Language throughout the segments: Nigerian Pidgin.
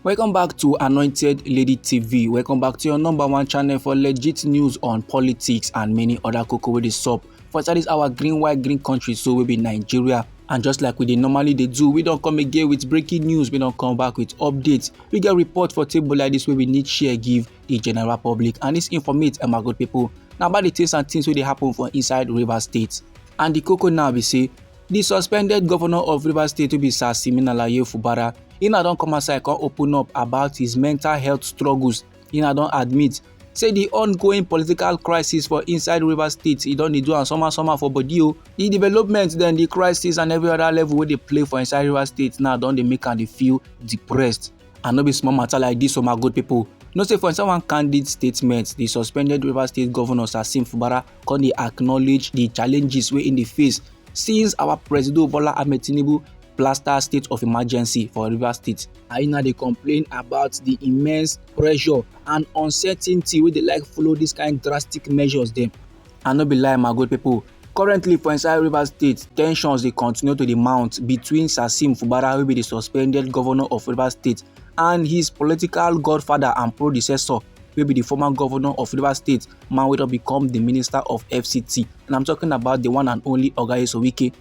Welcome back to Anointed Lady TV. Welcome back to your number one channel for legit news on politics and many other cocoa with the sup. For inside this our green white green country so we be Nigeria and just like we dey normally dey do we don come again with breaking news we don come back with updates we get report for table like this wey we need share give the general public and this informate um, our good people na about the things and things wey dey happen for inside rivers state and the koko now be say di suspended govnor of rivers state wey be sir siminalayi fubara e na don come outside come open up about his mental health struggles e na don admit say di ongoing political crisis for inside rivers state e don dey do am somehow somehow for body o di development dem di crisis and every other level wey dey play for inside rivers state now don dey make am dey feel depressed and no be small matter like dis o my good pipo know say for inside one candid statement di suspended rivers state govnor sasim fubara come dey acknowledge the challenges wey im dey face since our presido bola ahmed tinubu plaster state of emergency for rivers state. aina dey complain about the immense pressure and uncertainty wey dey like follow dis kind drastic measures dem. i no be lie my good pipo currently for inside rivers state tensions dey continue to dey mount between sasim fubara wey be di suspended governor of rivers state and his political godfather and predecessor wey be di former governor of rivers state man wey don become di minister of fct and i'm talking about di one and only oga esowike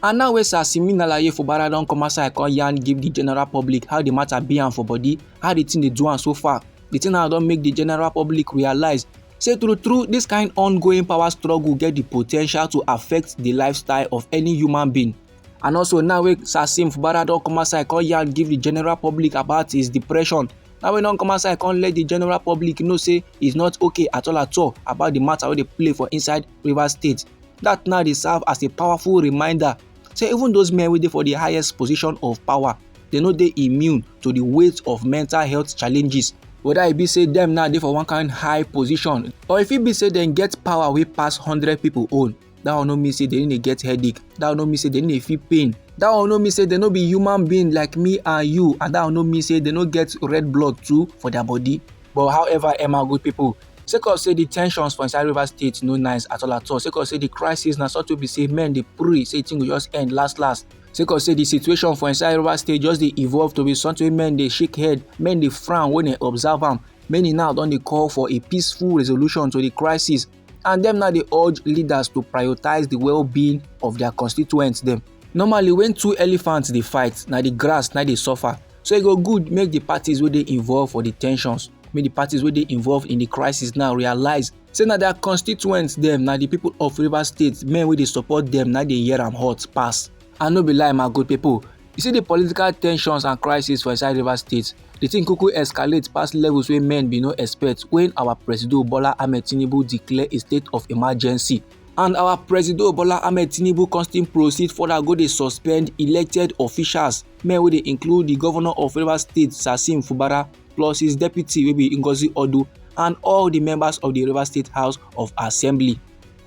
and now wey sir simin alaye fubara don come outside come yarn give di general public how di matter be am for body how di thing dey do am so far di thing now don make di general public realise say true true dis kind ongoing power struggle get di po ten tial to affect di lifestyle of any human being And also now wey Sasim Fubara don come outside come yarn give the general public about his depression. Now wey don come outside come let the general public know say he's not okay at all at all about the matter wey dey play for inside Rivers State. That now dey serve as a powerful reminder say even those men wey dey for the highest position of power dey no dey immune to the weight of mental health challenges whether e be say dem now dey for one kind high position or e fit be say dem get power wey pass hundred people own. that one no mean say they no dey get headache that one no mean say they no dey feel pain that one no mean say they no be human being like me and you and that one no mean say they no get red blood too for their body but however emma good people sake of say the tensions for inside rivers state no nice at all at all sake of say the crisis na sort of be say men dey pray say thing go just end last last sake of say the situation for inside rivers state just dey evolve to be something wey men dey shake head men dey frown when dem observe am many now don dey call for a peaceful resolution to the crisis and dem now dey urge leaders to prioritize the well-being of their constituents dem. normally when two elephants dey fight na the grass na dey suffer so e go good make the parties wey dey involved for the tensions make the parties wey dey involved in the crisis now realize say na their constituents dem na the people of rivers state men wey dey support dem na dey hear am hot pass And no be lie my good people, you see the political tensions and crisis for inside Rivers State, the thing quickly escalate past levels where men be no expect when our President Bola Ahmed Tinubu declare a state of emergency. And our President Bola Ahmed Tinubu constant proceed further go dey suspend elected officials, men wey dey include the governor of Rivers State, Sasim Fubara, plus his deputy wey be Ngozi Odu, and all the members of the Rivers State House of Assembly.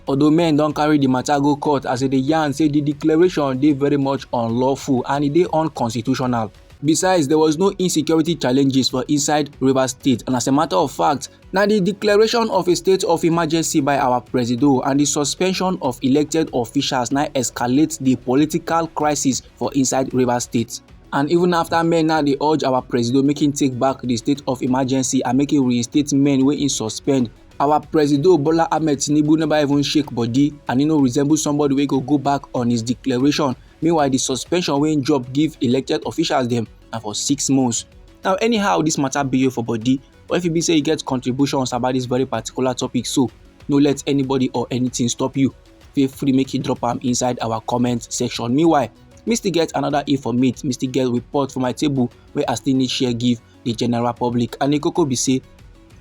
although men don carry di matter go court as e dey yarn say di declaration dey very much unlawful and e dey unconstitutional. Besides, there was no insecurity challenges for inside Rivers State and as a matter of fact, na di declaration of a state of emergency by our presido and di suspension of elected officials na escalate di political crisis for inside Rivers State. And even after men now dey urge our presido make im take back di state of emergency and make im reinstate men wey im suspend, our presido bola ahmed tinubu never even shake body and e no resemble somebody wey go go back on his declaration meanwhile di suspension wey im drop give elected officials dem na for six months now anyhow dis matter be you for body or if e be say you get contributions about dis very particular topic so no let anybody or anything stop you feel free make you drop am inside our comment section meanwhile me still get another informate me still get report for my table wey i still need share give di general public and di koko be say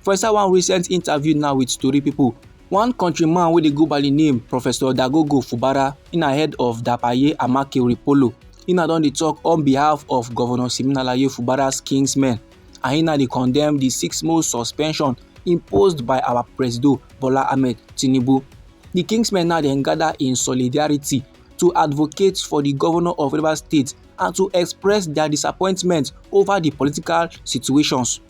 for inside one recent interview now with tori pipo one countryman wey dey go by di name professor dagogo fubara na head of dapaye amake ripolo na don dey tok on behalf of governor siminalayi fubara's kinsmen and na dey condemn di six month suspension imposed by our presido bola ahmed tinubu di kinsmen now dem gather in solidarity to advocate for the governor of Rivers State and to express their disappointment over the political situations.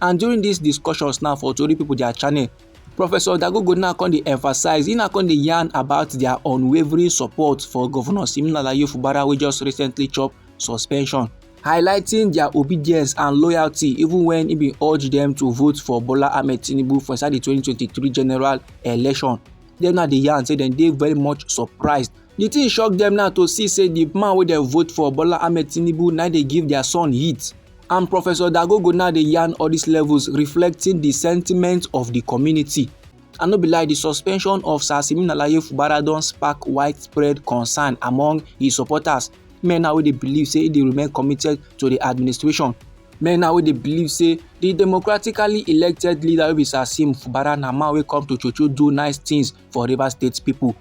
And during these discussions now for Tori people their channel, Professor Dagogo now come dey emphasize, he now come dey yarn about their unwavering support for Governor Siminala Yefubara wey just recently chop suspension highlighting their obedience and loyalty even when he bin urge them to vote for Bola Ahmed Tinubu for inside the 2023 general election. dem now dey yarn say dem dey very much surprised the thing shock dem now to see say the man wey dem vote for bola ahmed tinubu na dey give their son heat and professor dagogo now dey yarn all these levels reflecting the sentiment of the community I no be like the suspension of Sir Simeon Alaye Fubara don spark widespread concern among his supporters, men now wey dey believe say he dey remain committed to the administration. Men now wey dey believe say the democratically elected leader wey be Sasim Fubara na man wey come to Chocho do nice things for Rivers State people.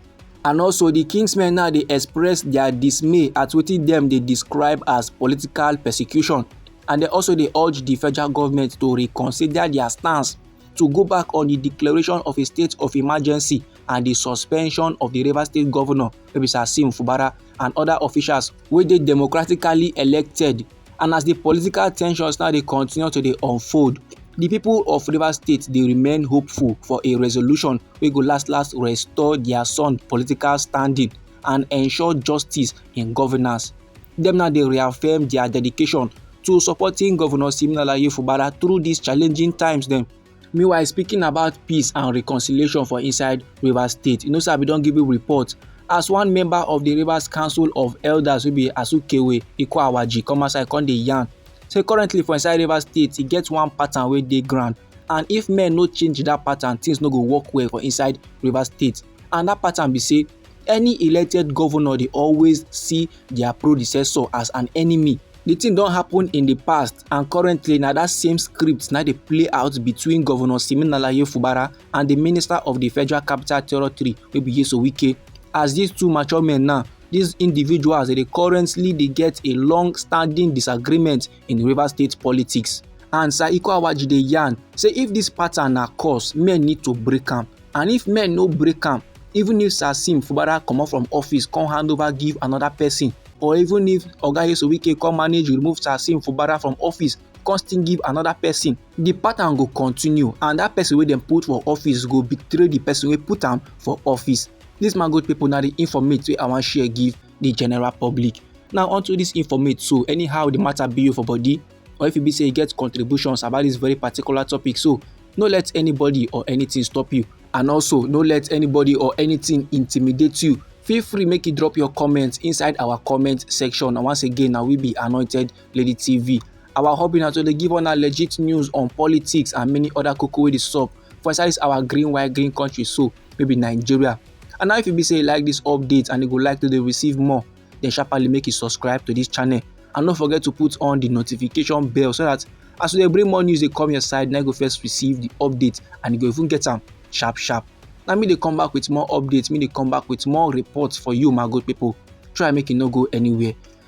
And also the Kingsmen now dey express their dismay at wetin dem dey describe as political persecution and they also dey urge the federal government to reconsider their stance to go back on the declaration of a state of emergency and the suspension of the Rivers State governor, Sasim Fubara, and other officials where they democratically elected and as di political ten sions now dey continue to dey unfold di pipo of rivers state dey remain hopeful for a resolution wey go last last restore dia son political standing and ensure justice in governance dem now dey reaffirm dia dedication to supporting govnor siminalayi fubara through dis challenging times dem meanwhile speaking about peace and reconciliation for inside rivers state inosabi don give a report as one member of the rivers council of elders wey be asukewe ikwawaji come outside come dey yarn say currently for inside rivers state e get one pattern wey dey ground and if men no change that pattern things no go work well for inside rivers state and that pattern be say any elected governor dey always see their predecessor as an enemy the thing don happen in the past and currently na that same script na dey play out between governor siminalayi fubara and the minister of the federal capital territory wey be yeso wike as these two mature men now these individuals they currently they get a long standing disagreement in river state politics and sir iko awaji dey yarn say if this pattern na cause men need to break am and if men no break am Even if Sasim Fubara comot from office come hand over give another person, or even if Oga Nyesom Wike come manage remove Sasim Fubara from office come still give another person, the pattern go continue and that person wey dem put for office go betray the person wey put am for office. This man good people na the informate wey I wan share give the general public. Now onto this informate so anyhow the matter be you for body, or if e be say you get contributions about this very particular topic so no let anybody or anything stop you and also no let anybody or anything intimidate you feel free make you drop your comments inside our comment section and once again now we be anointed lady tv our hobby now to dey give una legit news on politics and many other koko wey dey sup for inside this our green white green country so maybe nigeria and now if you be say you like this update and you go like to dey receive more then sharply make you subscribe to this channel and no forget to put on the notification bell so that as we dey bring more news dey come your side na you go first receive the update and you go even get am sharp sharp na me dey come back with more updates me dey come back with more reports for you my good people try make you no go anywhere